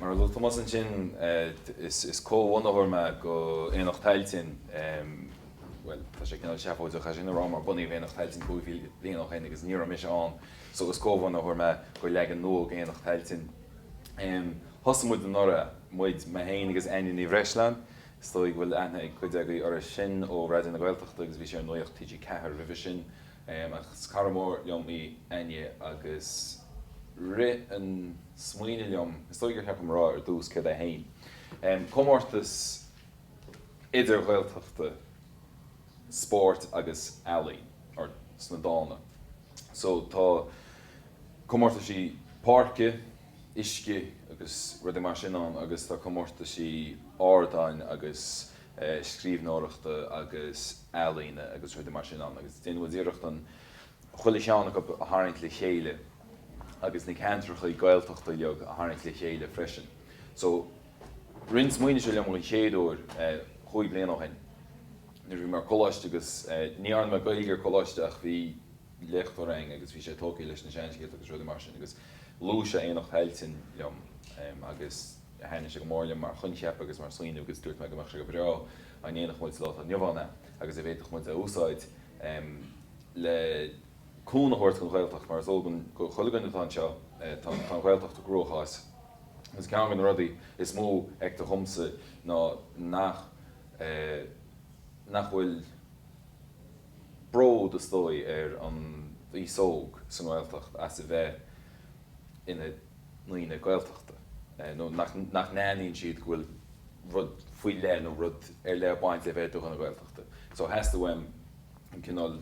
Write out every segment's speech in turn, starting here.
Mar a luaigh Tomás ansin, is comhbhunaitheoir mé go Aonach Tailteann, bhuel, tá sé cineál seafóideach é sin a rá mar bunaíodh Aonach Tailteann cúig chéad bliain ó shin agus ní raibh mise ann so is comhbhunaitheoir mé go leagan nua Aonach Tailteann. Thosaigh muid anuraidh, muid, mé féin agus Áine Ní Bhreisleáin, is dóigh go bhfuil aithne ag cuid agaí uirthi sin ó Raidió na Gaeltachta agus bhí sí ar Nuacht TG4 roimhe sin, Ach is cara mór liom í Áine agus rith an smaoineamh liom, is dóigh gur cheart dom a rá ar dtús céard é héin, comórtas idir-Ghaeltachta spóirt agus ealaíon, or sna dána. So tá comórtaisí páirce, uisce agus rudaí mar sin ann agus tá comórtaisí ardáin agus. scríbhneoireachta agus ealaíne agus rudaí mar sin ann agus déanann muid iarracht chuile cheann acu a tharraingt le chéile agus na ceantracha Gaeltachta uilig a tharraingt le chéile freisin. So, rith an smaoineamh seo liom an chéad uair cúig bliana ó shin nuair a bhí mé ar coláiste agus ní dhearna mé Gaeilge ar coláiste ach bhí léachtóir ann agus bhí sé tógtha leis na seanscéalta agus rudaí mar sin agus luaigh sé Aonach Tailteann liom agus Thaithnigh sé go mór liom mar choincheap agus mar smaoineamh agus dúirt mé go mbeadh sé go breá dá ndéanfadh muid sa lá atá inniu ann é agus dá bhféadfadh muid é a úsáid le cúnamh a thabhairt don Ghaeltacht mar is eol do chuile dhuine atá anseo, tá an Ghaeltacht i gcruachás agus ceann de na rudaí is mó a feictear dhomsa ná nach bhfuil. bród, is dóigh, ar an aos óg sa nGaeltacht as a bheith ina ndaoine Gaeltachta, nó nach n-aithníonn siad go bhfuil rud faoi leith nó rud ar leith ag baint le bheith i do dhuine Gaeltachta. So theastaigh uaim an cineál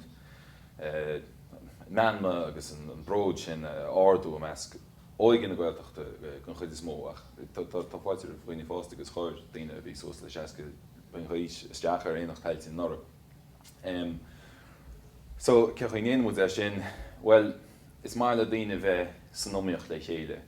meanma agus an bród sin a ardú i measc óige na Gaeltachta den chuid is mó, ach tá fáilte roimh dhaoine fásta agus chuir daoine a bhí suas le seasca bliain d'aois isteach ar Aonach Tailteann anuraidh. So, cén chaoi a ndéanann muid é sin? Bhuel, is maith le daoine bheith san iomaíocht le chéile.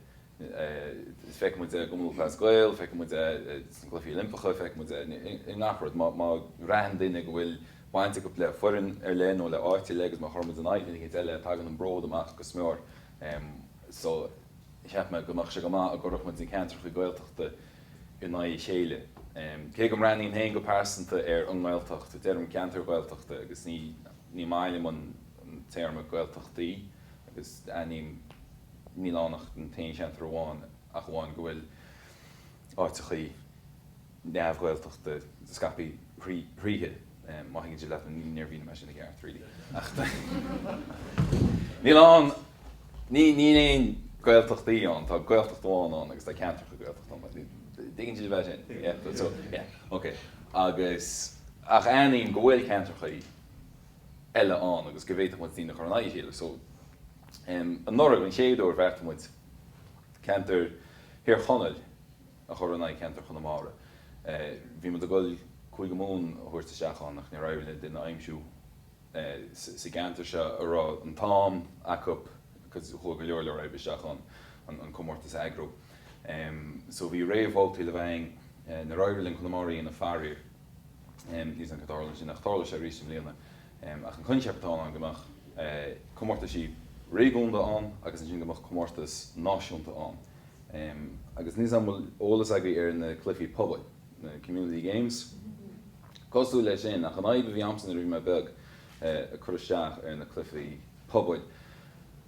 Feiceann muid é i gCumann Lúthchleas Gael, feiceann muid é sna Cluichí Oilimpeacha, feiceann muid é i ngach rud. Má bhraitheann daoine go bhfuil baint acu le foireann ar leith nó le háit ar leith agus má chuireann muid in aghaidh duine eicínt eile, tagann an bród amach go mór. cheap mé go mbeadh sé go maith dá gcuirfeadh muid na ceantrachaí Gaeltachta in aghaidh a chéile. Cé go mbreathnaím féin go pearsanta ar an nGaeltacht, deirim ceantair Ghaeltachta agus ní maith liom an téarma Gaeltachtaí agus a leithéid, mar níl ann ach an t-aon cheantar amháin, ach amháin go bhfuil áiteachaí. neamh-Ghaeltachta scaipthe tríothu. Má thuigeann sibh leat, níor mhínigh mé sin i gceart really. Níl ann, níl aon Ghaeltachtaí ann, tá Gaeltacht amháin ann agus tá ceantracha Gaeltachta ann. Tuigeann sibh é sin? Yeah? So yeah, ok. Agus, ach aithním go bhfuil ceantrachaí eile ann agus go bhféadfadh muid daoine a chur in aghaidh a chéile. So anuraidh, an chéad uair, bheartaigh muid ceantar Thír Chonaill, a chur in aghaidh cheantar Chonamara. Bhí muid ag dul Cúige Mumhan a thabhairt isteach ann ach níor éirigh linn duine a aimsiú sa gceantar seo a raibh an t-am acu agus chuaigh go leor leor oibre isteach ann an comórtas a eagrú. So bhí réamhbhabhtaí le bheith againn. Níor éirigh linn Conamara a dhéanamh faraor. Níos cén chaoi ar tharla sin ach tá sé arís i mbliana. Ach an coincheap atá ann go mbeadh comórtaisí réigiúnda ann agus ansin go mbeadh comórtas náisiúnta ann. agus níos an bhfuil eolas agaibh ar na cluichí pobail, na community games? Cosúil le sin, ach an fhadhb a bhí amsa nuair a bhí mé beag, ag cur isteach ar na cluichí pobail,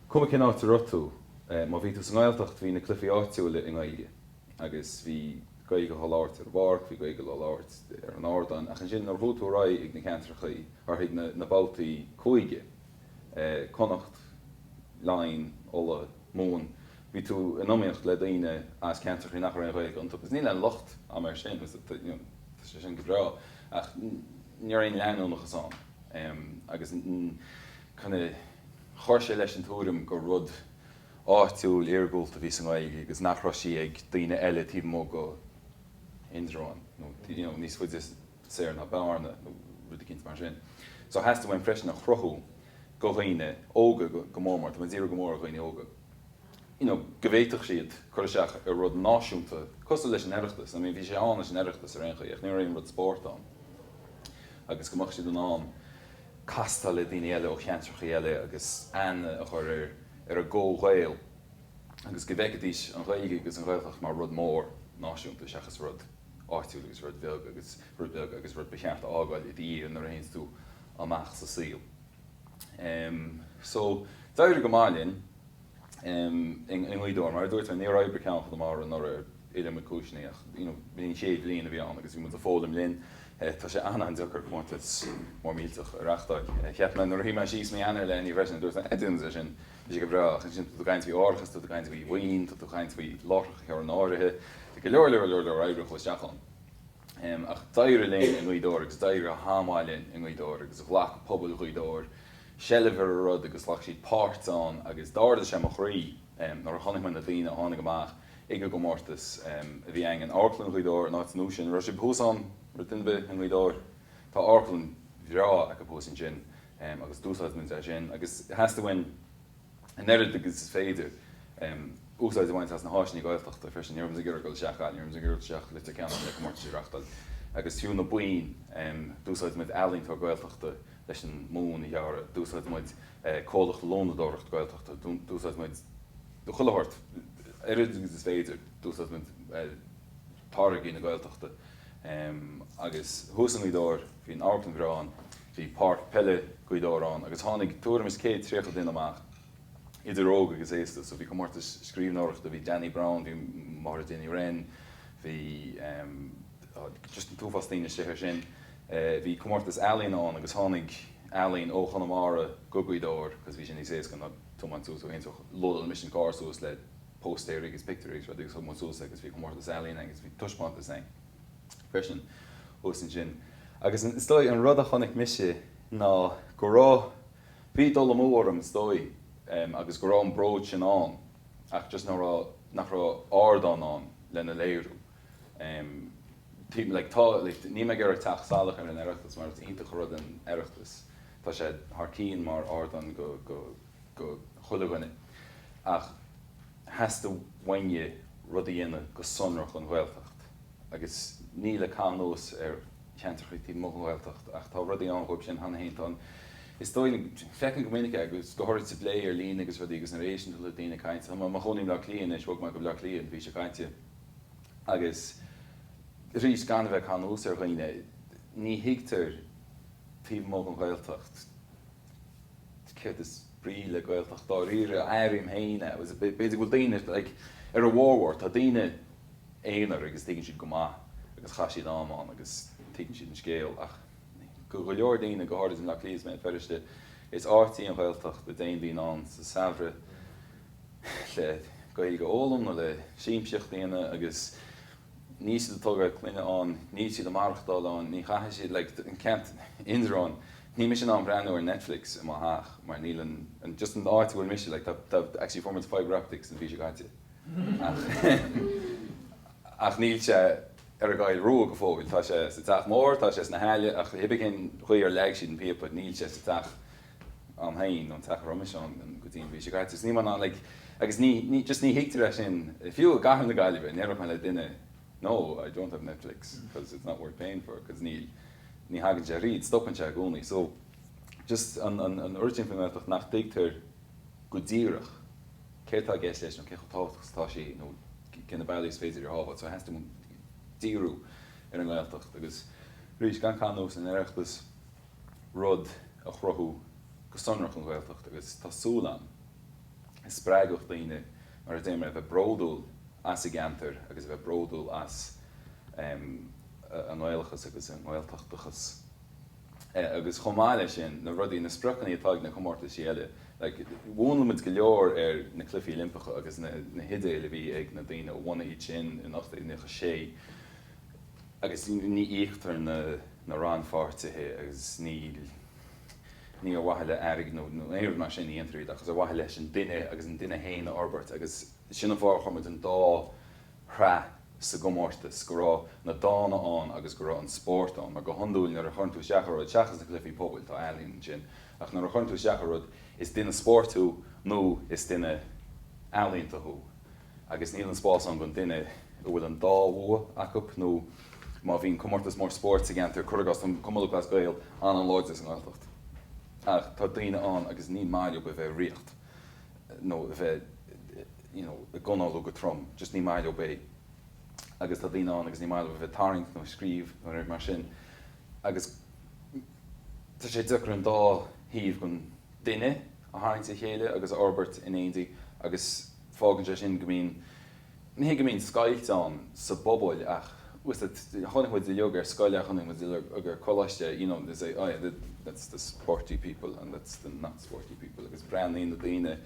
cuma cén áit a raibh tú, má bhí tú sa nGaeltacht, bhí na cluichí áitiúila i nGaeilge, agus bhí Gaeilge á labhairt ar an bpáirc, bhí Gaeilge á labhairt ar an ardán, ach ansin nuair a chuaigh tú ar aghaidh ag na ceantrachaí, nó ag na babhtaí cúige, Connacht, Laighin, Uladh, Mumhan, bhí tú in iomaíocht le daoine as ceantrachaí nach raibh aon Ghaeilge iontu, agus níl aon locht am air sin, tá sé sin go breá, ach ní raibh aon leanúnachas ann, agus chuir sé leis an tuairim gur rud áitiúil, iargúlta a bhí sa nGaeilge agus nach raibh sí ag daoine eile taobh amuigh de Indreabhán, nó níos faide. soir ná Bearna nó rud eicínt mar sin. So theastaigh uaim freisin a chruthú do dhaoine óga go mór mór, tá mé ag díriú go mór ar dhaoine óga, you know go bhféadfadh siad cur isteach ar rud náisiúnta cosúil leis an Oireachtas, I mean bhí sé ann leis an Oireachtas ar aon chaoi ach ní raibh aon rud spóirt ann agus go mbeadh siad in ann castáil le daoine eile ó cheantrachaí eile agus aithne a chur ar ar a gcomh-Ghaeil agus go bhfeicfidís an Ghaeilge agus an Ghaeltacht mar rud mór náisiúnta seachas rud áitiúil agus rud beag agus rud ba cheart a fhágáil i do dhiaidh nuair a théanns tú amach sa saol. Em, so, d'éirigh go maith linn, em, i nGaoth Dobhair, mar a dúirt mé, níor oibrigh ceann Chonamara anuraidh ar iliomad cúiseannaí, you know, b'in an chéad bhliain a bhí ann agus bhí muid ag foghlaim linn. Eh, tá sé an-an-deacair comórtas mór millteach a reachtáil. Eh, cheap mé nuair a shuigh mé síos mí Eanáir le haghaidh ní freisin, dúirt mé, eh, déanfaidh mé é sin. Bhí sé go breá. Ansin, tá tú ag caint faoi árachas, tá tú ag caint faoi bhoinn, tá tú ag caint faoi láithreacha a chur in áirithe, bhí go leor, leor, leor, leor oibre a chuaigh isteach ann. Ach d'éirigh linn i nGaoth Dobhair agus d'éirigh go han-mhaith linn i nGaoth Dobhair agus ghlac pobal Ghaoth Dobhair seilbh ar an rud agus ghlac siad páirt ann agus d'ardaigh sé mo chroí nuair a chonaic mé na daoine a tháinig amach ag an gcomórtas a bhí againn in Amharclann Ghaoth Dobhair, an áit nua sin. An raibh sibh thuas ann, an raibh duine ar bith i nGaoth Dobhair? Tá amharclann bhreá acu thuas ansin. agus d'úsáid muid é sin agus theastaigh uainn an oiread agus is féidir úsáid a bhaint as na háiseanna Gaeltachta freisin. Ní raibh muid ag iarraidh a ghoil isteach, ní raibh muid ag iarraidh a ghoil isteach go Leitir Ceanainn le comórtais a reáchtáil agus fiú na boinn d'úsáid muid ealaíontóir Gaeltachta leis an mbonn a dhearadh, d'úsáid muid comhlacht lónadóireacht Gaeltachta, d'úsáid muid do chuile shórt, an oiread agus is féidir d'úsáid muid táirgí na Gaeltachta agus thuas i nGaoth Dobhair bhí an amharclann bhreá ann Bhí páirc peile Ghaoth Dobhair ann agus tháinig tuairim is céad tríocha duine amach, idir óg agus aosta, so bhí comórtas scríbhneoireachta, bhí Danny Brown, bhí Máire Dinny Wren, bhí em just an t-uafás daoine istigh air sin. Bhí comórtas ealaíona ann agus tháinig ealaín ó Chonamara go Gaoth Dobhair because bhí sé níos éasca ná tiomáint suas ó Aontrach, lódáil mise an carr suas le póstaeirí agus pictiúirí agus rudaí agus thug muid suas é agus bhí comórtas ealaíona agus bhí taispeántas ann. freisin thuas ansin. Agus is dóigh, an rud a chonaic mise ná go raibh, bhí dul amú orm is dóigh agus go raibh an bród sin ann ach just nach raibh, nach raibh ardán ann lena léiriú. Like tá, like níl mé ag iarraidh teacht salach ar an Oireachtas mar is iontach an rud an Oireachtas, tá sé thar cinn mar ardán go, go, go chuile dhuine ach, theastaigh uainne rud a dhéanamh go sonrach don Ghaeltacht agus ní le caitheamh anuas ar cheantrachaí taobh amuigh den Ghaeltacht ach tá rudaí ann dhóibh sin cheana fhéin. Tá an, is dóigh liom, feicim go minic é agus go háirid sa bplé ar líne agus rudaí agus nuair a éisteann tú le daoine ag caint, tá mé i mo chónaí i mBleá Cliath anois, bhog mé go Bleá Cliath an mhí seo caite agus arís gan a bheith ag caitheamh anuas ar dhaoine, ní thuigtear taobh amuigh den Ghaeltacht. céard is brí le Gaeltacht dáiríre, airím féin é, agus b'fhéidir go bhfuil daoine like ar a bhformhór, tá daoine aonair agus tuigeann siad go maith agus chaith siad am ann agus tuigeann siad an scéal ach go go leor daoine, go háirid i mBleá Cliath is Béal Feirste, is áit í an Ghaeltacht a dtéann daoine ann sa samhradh le Gaeilge a fhoghlaim nó le siamsaíocht a dhéanamh agus níl siad ag tógáil clainne ann, níl siad ag maireachtáil ann, ní chaithfidh siad like an ceantar, Indreabhán, Níl mise in ann breathnú ar Netflix i mo theach mar níl an, an, just an áit a bhfuil mise, like tá, tá, actually fuair muid fibre optics an mhí seo caite ach ach níl sé ar an gCoill Rua go fóill, tá sé sa Teach Mór, tá sé sna hAille ach hibé cén chaoi ar leag siad an píopa, níl sé sa teach a'm féin, an teach roimis ann go dtí an mhí seo caite so níl mé in ann like agus ní, ní, just ní thuigtear é sin, fiú i gcathair na Gaillimhe, dá ndéarfadh mé le duine no, I don't have Netflix because it's not worth paying for because níl. Ní thagann sé thríd, stopann sé i gcónaí. So, just an oiread sin faoin nGaeltacht nach dtuigtear go díreach céard atá i gceist leis nó cé chomh tábhachtach is atá sí nó cé na bealaí is féidir í a shábháil. So, theastaigh díriú ar an nGaeltacht agus, arís, gan ar nós an Oireachtas rud a chruthú go sonrach don Ghaeltacht agus tá súil agam go spreagfadh daoine mar a deir mé a bheith bródúil as a gceantar agus a bheith bródúil as a a nGaelachas agus a nGaeltachtachas agus chomh maith leis sin na rudaí, na spriocannaí atá ag na comórtaisí eile. Mhúnlaigh muid go leor ar na cluifí Oilimpeacha agus na hidéil a bhí ag na daoine a bhunaigh iad sin in 1896 agus ní íoctar na rannpháirtithe agus níl, ní ar mhaithe le airgead nó aon rud mar sin a dhéantar iad ach is ar mhaithe leis an duine agus an duine féin a fhorbairt agus sin an fáth ar chuir muid an dá shraith sa gcomórtas, go raibh na dána ann agus go raibh an spórt ann. Mar go hiondúil nuair a chuireann tú isteach ar rud, seachas na cluifí pobail, tá ealaín ansin, ach nuair a chuireann tú isteach ar rud, is duine spóirt thú nó is duine ealaíonta thú agus níl an spás ann don duine a bhfuil an dá bhua acu nó má bhíonn comórtas mór spóirt sa gceantar, cuir i gcás, tá Cumann Lúthchleas Gael an-láidir sa nGaeltacht ach tá daoine ann agus ní maith leo a bheith ag ritheacht nó a bheith. you know ag análú go trom just ní maith leo é agus tá daoine ann agus ní maith leo a bheith ag tarraingt nó ag scríobh nó rud mar sin agus tá sé deacair an dá thaobh den duine a tharraingt le chéile agus a fhorbairt in éindí agus fágann sé sin go mbíonn, ní hé go mbíonn scoilt ann sa bpobal ach you see it chonaic muid uiliog ar scoil é chonaic muid uiliog ar coláiste you know they say oh yeah that's the sporty people and that's the not sporty people agus breathnaíonn na daoine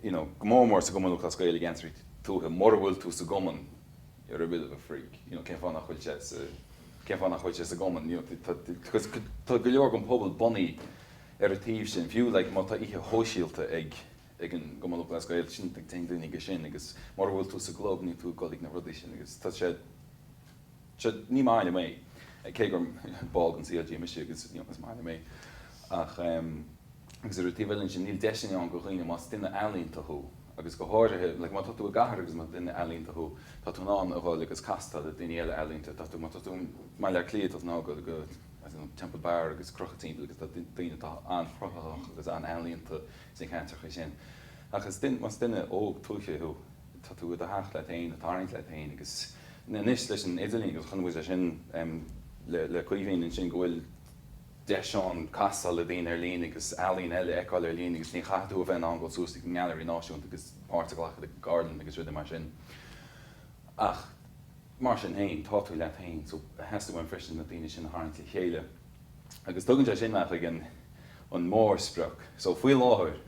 you know, go mór mór sa gCumann Lúthchleas Gael i gceantraí tuaithe, mura bhfuil tú sa gCumann you're a bit of a freak, you know, cén fáth nach bhfuil sé sa, cén fáth nach bhfuil sé sa gCumann, you know, tá, because tá go leor den pobal bunaithe ar an taobh sin, fiú like má tá oíche shóisialta ag, ag an gCumann Lúthchleas Gael, sin, téann daoine ag sin agus mura bhfuil tú sa gclub níl tú ag dul ag na rudaí sin agus tá sé, Sea, ní maith liom é, cé gur ball den CLG mise agus is maith liom é. Ach, agus ar an taobh eile ansin, níl deiseanna ann do dhaoine, más duine ealaíonta thú, agus go háirithe, like, má tá tú i gcathair agus más duine ealaíonta thú, tá tú in ann a dhul agus casadh le daoine eile ealaíonta, tá tú, má tá tú i mBaile Átha Cliath, tá tú in ann dhul go, I don't know, Temple Bar agus crochadh timpeall agus tá daoine atá an-chruthaitheach agus an-ealaíonta sna ceantracha sin. Agus duine, más duine óg tuaithe thú, tá tú i do theach leat féin, ag tarraingt leat féin agus anois leis an idirlíon agus chonaic muid é sin le Caoimhín ansin go bhfuil deis ann castáil le daoine ar líne agus ealaín eile a fheiceáil ar líne agus ní chaithfidh tú a bheith in ann dul suas chuig an nGailearaí Náisiúnta agus páirt a ghlacadh i gceardlann agus rudaí mar sin ach mar sin féin tá tú leat féin so theastaigh uaim freisin na daoine sin a tharraingt le chéile agus tugann sé sin mé chuig an mórsprioc so faoi láthair.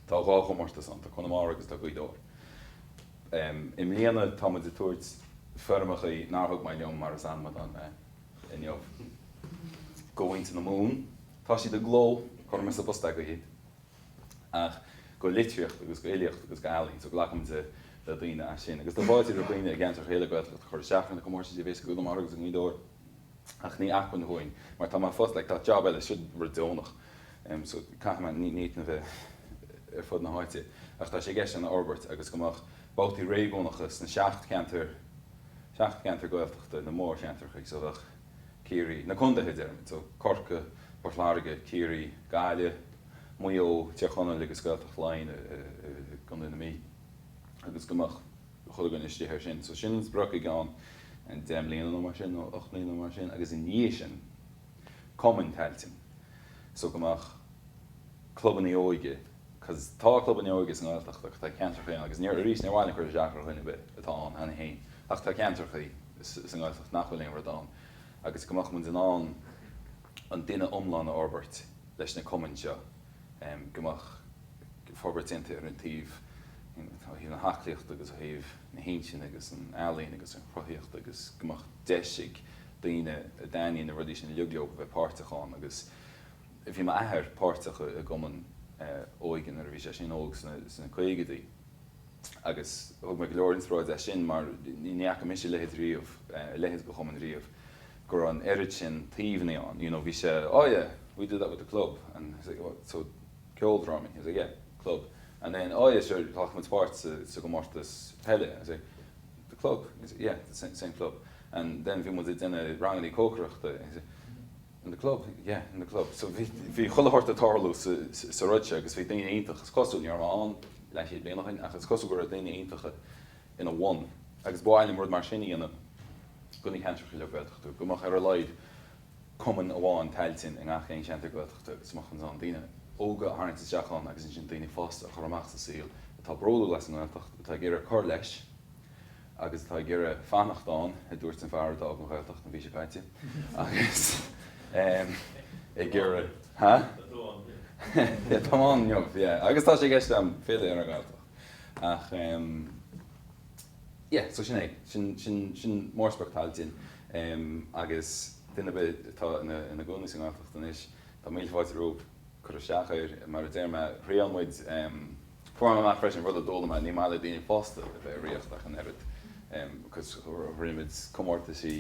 Tá dhá chomórtas ann, tá Conamara agus tá Gaoth Dobhair. I mbliana tá muid ag tabhairt foirmeacha nár thug mé liom mar is anmadán mé inniu. Going to the Moon, tá siad i gcló, chuir mé sa bpost é go Hyde, ach do litríocht agus do fhilíocht agus do ealaín, so glacann muide le daoine as sin. Agus tá fáilte roimh dhaoine i gceantair eile Gaeltachta chur isteach ar na comórtais a bheas i gConamara agus i nGaoth Dobhair. ach ní acmhainn dhúinn, mar tá mé fós, like, tá job eile, siod rud deonach, em, so caithfidh mé ní, ní, na bheith ar fud na háite, ach tá sé i gceist againn é a fhorbairt agus go mbeadh babhtaí réigiúnacha sna seacht gceantar, seacht gceantar Gaeltachta, na mórcheantrachaí, so bheadh Ciarraí, na condaetha, deirimid, so Corca, Port Láirge, Ciarraí, Gaillimh, Maigh Eo, Tír Chonaill agus Gaeltacht Laighean i, i, i gCondae na Mí agus go mbeadh. chuile dhuine istigh air sin. So sin an sprioc i gceann deich mbliana nó mar sin, nó ocht mbliana nó mar sin, agus ina dhiaidh sin, cumainn Tailteann. So go mbeadh clubannaí óige, because tá clubanna óige sa nGaeltacht agus tá ceantrachaí ann agus níor, arís, níor mhaith linn cur isteach ar dhuine ar bith atá ann cheana féin, ach tá ceantrachaí sa nGaeltacht nach bhfuil aon rud ann agus go mbeadh muid in ann an duine iomlán a fhorbairt leis na cumainn seo. go mbeadh forbairt déanta ar gach aon taobh ó thaobh na haclaíochta agus ó thaobh na hintinne agus an ealaíon agus an chruthaíochta agus go mbeadh deis ag daoine a dtaitníonn na rudaí sin uilig go léir leo a bheith páirteach ann agus bhí m'athair páirteach i gcumann óige nuair a bhí sé sin óg sna caogadaí. agus thug mé go leor inspioráide as sin, mar ní fhaca mise a leithéid riamh, leithéid de chumann riamh, go raibh an oiread sin taobhanna ann, you know, bhí sé, oh yeah, we did that with the club, and he was like, what, so, ceoldrámaí, he was like, yeah, club, and then, oh yeah, sure, ghlac muid páirt sa, sa gcomórtas peile, I was like, the club, he was like, yeah, the same club, and then bhí muid ag déanamh rangannaí cócaireachta, he was like, in the club, yeah, in the club. So bhí, bhí chuile shórt ag tarlú sa, sa rud seo agus bhí daoine iontach, is cosúil, ní raibh mé ann leathchéad bliain ó shin ach is cosúil go raibh daoine iontacha ina bhun agus ba mhaith liom rud mar sin a dhéanamh do na ceantracha eile Gaeltachta, go mbeadh ar a laghad cumann amháin Tailteann i ngach aon cheantar Gaeltachta agus go mbeadh sé in ann daoine óga a tharraingt isteach ann agus ansin daoine fásta a chur amach sa saol atá bródúil as an nGaeltacht, atá ag iarraidh cur leis. agus atá ag iarraidh fanacht ann, a dúirt an fear a d'fhág an Ghaeltacht an mhí seo caite agus ag iarraidh, ha? atá ann inniu, yeah, agus tá sé i gceist agam filleadh ar an nGaeltacht ach em yeah so sin é, sin, sin, sin mórsprioc Tailteann em agus duine ar bith atá ina, ina gcónaí sa nGaeltacht anois, tá míle fáilte romhaibh cur isteach air, mar a deir mé, thriail muid em. Fuair mé amach freisin, rud a d'fhoghlaim mé, ní maith le daoine fásta a bheith i ríocht ach an oiread. Rith muid comórtaisí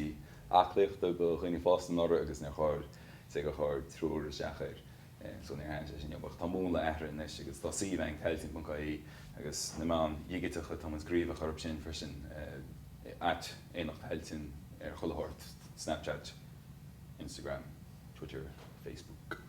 aclaíochta do dhaoine fásta anuraidh agus níor chuir, cé gur chuir triúr isteach air so níor thaithin sé sin leo. Ach tá an múnla athraithe anois agus tá suíomh againn, tailteann.ie, agus na meáin dhigiteacha, tá muid gníomhach orthu sin freisin, at Aonach Tailteann ar chuile shórt, Snapchat, Instagram, Twitter, Facebook.